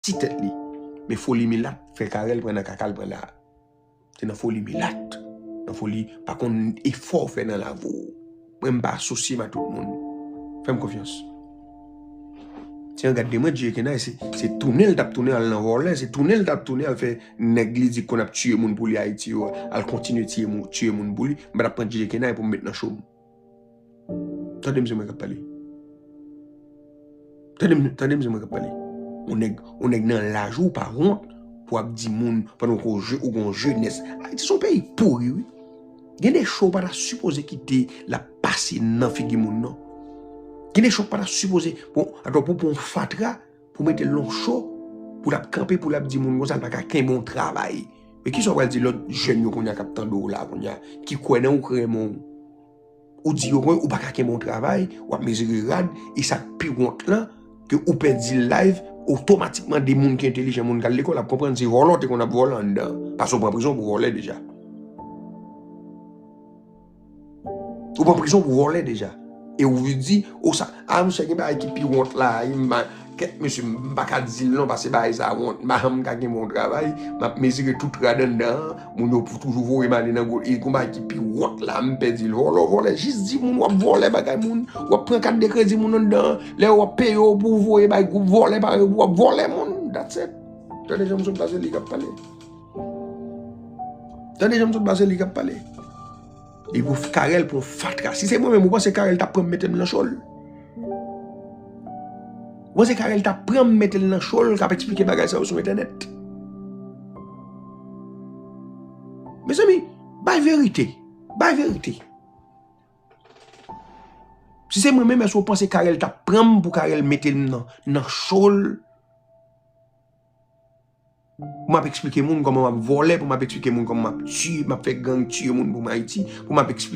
ti tèt li men foli milat fè Carel pran nan kaka l pran la se nan foli milat nan foli pa konn efò w fè nan lavi w mwen m pa asosye m a tout moun fè m konfyans ti an gad de mwen djeye kenay se tounen l t ap tounen al nan vòlè se tounen l t ap tounen al fè nèg li di konn ap tiye moun pou li ayiti yo al kontinye tiye moun pou li m pa t ap pran djeye kenay pou m met nan cho m. Tande msye mwen kap pale. Tande msye mwen kap pale. On nèg, on nèg nan laj ou pa wont pou ap di moun pandan ou gon jenès. Ayiti son peyi pouri wi. Gen de cho ou pa ta sipoze kite la pase nan figi moun non. Gen de cho ou pa ta sipoze, bon, atò pou pon fatra. Pou mete lon cho pou lap kanpe pou lap di moun konsa l pa ka kenbe yon travay. Men kisa w pral di lòt jèn yo kounye a k ap tande w la kounye a, ki kwè nan ou, ki renmen w. Ou di yo ke ou pa ka kenbe yon travay, w ap mezire rad, e sa k pi wont lan, ke ou pèdi layv, otomatikman de moun ki entelijan, moun k al lekòl ap konprann se vòlò w te konn ap vòlò anndan an. Paske ou pran prizon pou vòlè deja. Ou pran prizon pou vòlè deja. E ou vin di, ou sa. A msye gen bagay ki pi wont la. Kèt mesye m pa ka di l non paske bagay sa wont. M pa janm ka gen bon travay. M ap mezire tout rad anndan an. Moun yo pou toujou voye m ale nan gwo. E gon bagay ki pi wont la m pè di l. Vòlè w vòlè. Jis di moun w ap vòlè bagay moun. W ap pran kat de kredi moun anndan an. Lè yo ap peye w pou w voye bay gwoup vòlè parèy w pou w ap vòlè moun. That's it. Tande jan msye m pase li k ap pale. Tande janm sot base li kap pale. E pou karel pou fatra. Si se mwen mwen se karel tap pranm metem nan chol. Mwen se karel tap pranm metem nan chol kap eksplike bagay sa yo sou etenet. Mes ami, bay verite. Bay verite. Si se mwen mwen mwen se mwen se karel tap pranm pou karel metem nan chol. Pou map esplike moun koman map vole, pou map esplike moun koman map tiye, map fe gang tiye moun pou m ayiti, pou map esplike.